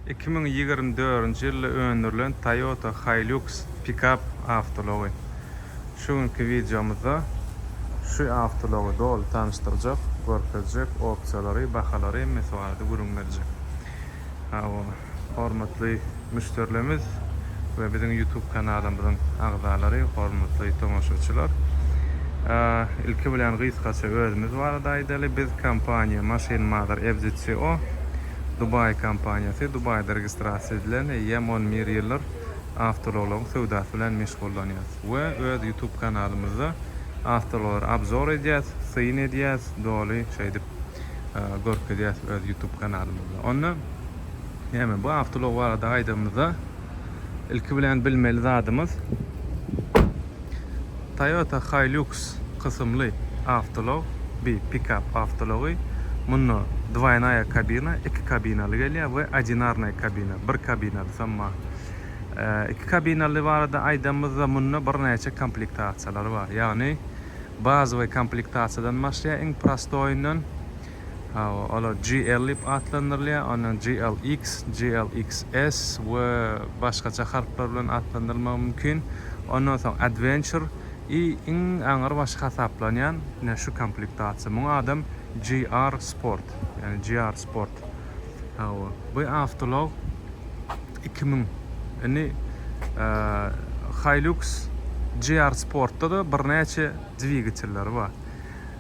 Iki müň ýigrimi dördünji ýylda öndürilen Toyota Hilux pikap awtoulagy. Şu günki wideomyzda şu awtoulagy doly tanyşdyrjak, görkezjek, opsiýalary, bahalary hemmesi barada gürrüň berjek. Hawa, hormatly müşderilerimiz we biziň YouTube kanalymyzyň agzalary, hormatly tomaşaçylar. Ilki bilen gysgaça özümiz barada aýdaly, biz kompaniýa Maşyn Mother FZCO. Dubai kompaniýasy Dubaýda registrasiýa edilen eýýäm on bir ýyldyr awtoulaglaryň söwdasy bilen meşgullanýas we öz YouTube kanalymyzda awtoulaglary abzor edýäs, syn edýäs, doly şeýdip görkezýäs öz YouTube kanalymyzda. Onda näme bu awtoulag barada aýdanymyzda ilki bilen bilmeli zadymyz. Toyota Hilux kysymly awtoulag, bi pikap awtoulagy. Munda dwoýnaýa kabina, iki kabinaly gelýär we odinarnaý kabina, bir kabinalysam bar. Iki kabinaly barada aýdanymyzda munda birnäçe komplektasiýalar bar. Ýagny bazowy komplektasiýadan başlaýar iň prostoýyndan Hawa, olar GL diýip atlandyrylýar, ondan GLX, GLXS we başgaça harplar bilen atlandyrylmagy mümkin. Ondan soň Adventure i iň aňrybaşy hasaplanýan ine şu komplektasiýa. Muňa adam GR Sport, ýagny GR Sport. Hawa, bu awtoulag iki müň. Indi Hilux GR Sportda-da birnäçe dwigatelleri bar.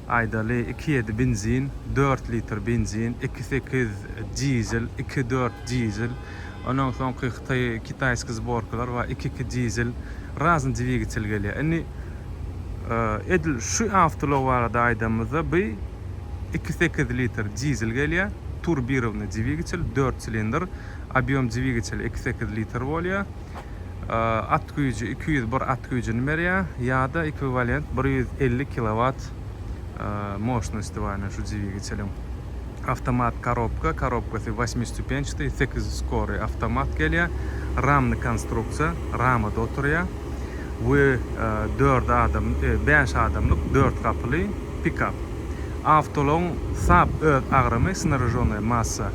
Aýdaly, iki ýedi benzin, dört litr benzin, iki sekiz dizel, iki dört dizel, ondan soňky hytaý kitaýskiý zborkalar bar, iki iki dizel, razni dwigitel gelýär. Indi edil şu awtoulag barada aýdanymyzda bi iki sekiz litr dizel gelýär, turbirownyý dwigitel, dört silindr, obýom dwigitel iki sekiz litr bolýar. at güýji iki ýüz bir at güýjüni berýär ýa-da ekwiwalent bir ýüz elli kilowat moşnosti bar ene şu dwigiçeliň awtomat korobka korobkasy wasmistupençatý sekiz ýüz skory awtomat gelýär ramny konstruksiýa ramada oturýar we dört adam bäş adamlyk dört gapyly pikap awtoulagyň sap öz agramy snaražonnaýa massa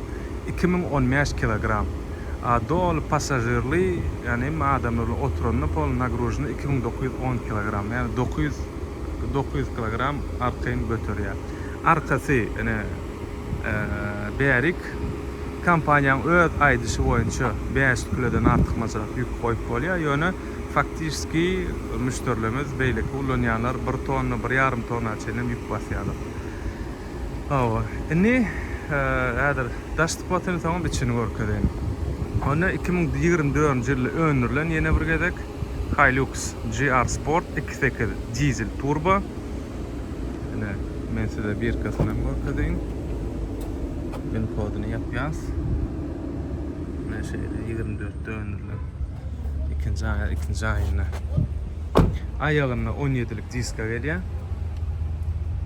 iki müň on bäş kilogram a doly passažirli ýani hemme adamlar oturanda pol nagruzhny iki müň dokuz ýüz on kilogram ýani dokuz ýüz dokuz ýüz kilogram arkaýyn göterýä arkasy ene bärik kompaniýaň öz aýdyşy boýunça bäş ýüz kilodan artykmajrak ýük goýup bolýa ýöne faktişski müşderilerimiz beýleki ulanýanlar bir tonna bir ýarym tonna çenlem ýük basýalar. Hawa, indi häzir daş sypatyny soňam içini görkezeýin. Onda iki müň ýigrimi dördünji ýylda öndürilen ýene bir gezek Hilux GR Sport iki sekiz dizel turbo. Ine, men size birkesini hem görkezeýin. Win kodyny ýapýas. Ine şeýle ýigrimi dörtde öndürilen. ikinji aýa ikinji aýynda aýagynda 17-lik diska gelýär.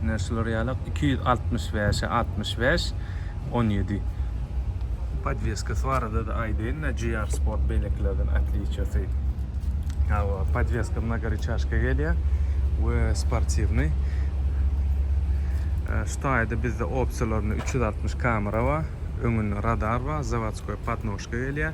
Ine şular ýalak 265-e 65 17. Podweskasy barada-da aýdaýyn-da GR Sport beýlekilerden otliciýasy. Hawa, podweska mnogorычажка gelýär we sportiwnyý. Şu taýda bizde opsiýalarynda 360 kamera bar, öňünde radar bar, zawodskoý podnožka gelýär.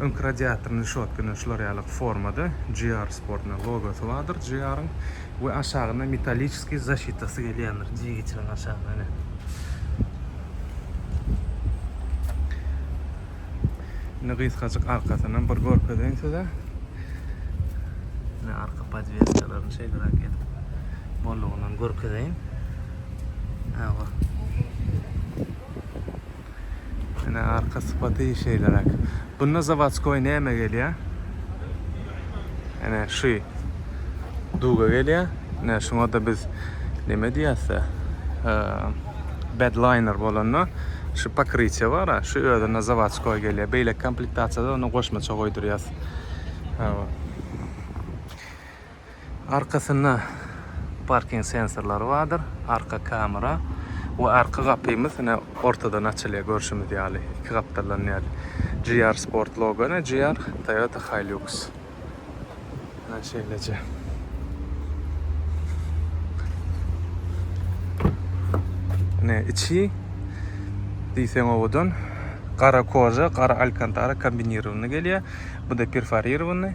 Öňki radiatorny rişotkany şular ýaly formada GR Sportna logosy bardyr GR-yň we aşagynda metaliçeskiý zaşitasy gelýändir diýgiçiniň aşagyna ine. Indi gysgajyk arkasynam bir görkezeýin size. Ine arka podweskalaryny şeýleräk edip bollugyndan görkezeýin. Äwa. Ene arka sypaty şeýleräk. Bunda zawodskoý näme gelýär? Ene şu duga gelýär. Ene şuňa-da biz näme diýäs-de? Bedliner bolanda şu pokrytýe bar-a, şu özüne zawodskoý gelýär. Beýleki komplektasiýada onda goşmaça goýdurýas. Hawa. Arkasynda parking sensorlary bardyr, arka kamera we arka gapymyz ine ortadan açylýar görşümiz ýaly, iki gapdaldan däl. GR Sport logo ine GR Toyota Hilux. Ine şeýleje. Ine içi diýseň owadan gara koja, gara alkantara kombinirowany gelýär. Bu da perforirowany.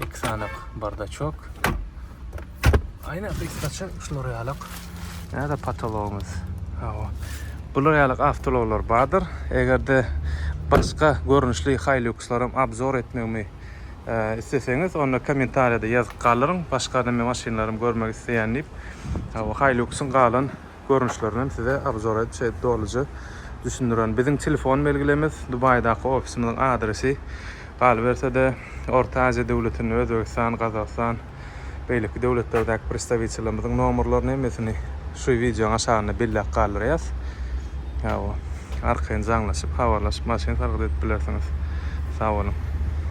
Iki sanak bardaçok. Ayna kysgaça şular ýalak. Näde patologymyz? Hawa. Bular ýalak awtologlar bardyr. Egerde başga görnüşli Hiluxlar hem obzor etmegimi e, isleseňiz, onda kommentariýada ýazyp galyryň. Başga da men maşynlarym görmek isleýän diýip. Hawa, Hiluxyň galan görnüşlerinden size obzor etçi dolyja düşündiren biziň telefon belgilemiz dubaýdaky ofisimiziň adresi galybersede orta aziýa döwletinde özbegistan gazagystan beýleki döwletlerdäki pristawitelimiziň nomerlerini hemmesini şu wideoň aşagynda belläp galdyrýas hawa arkaýyn jaňlaşyp habarlaşyp maşyn sargyt edip bilersiňiz sag boluň.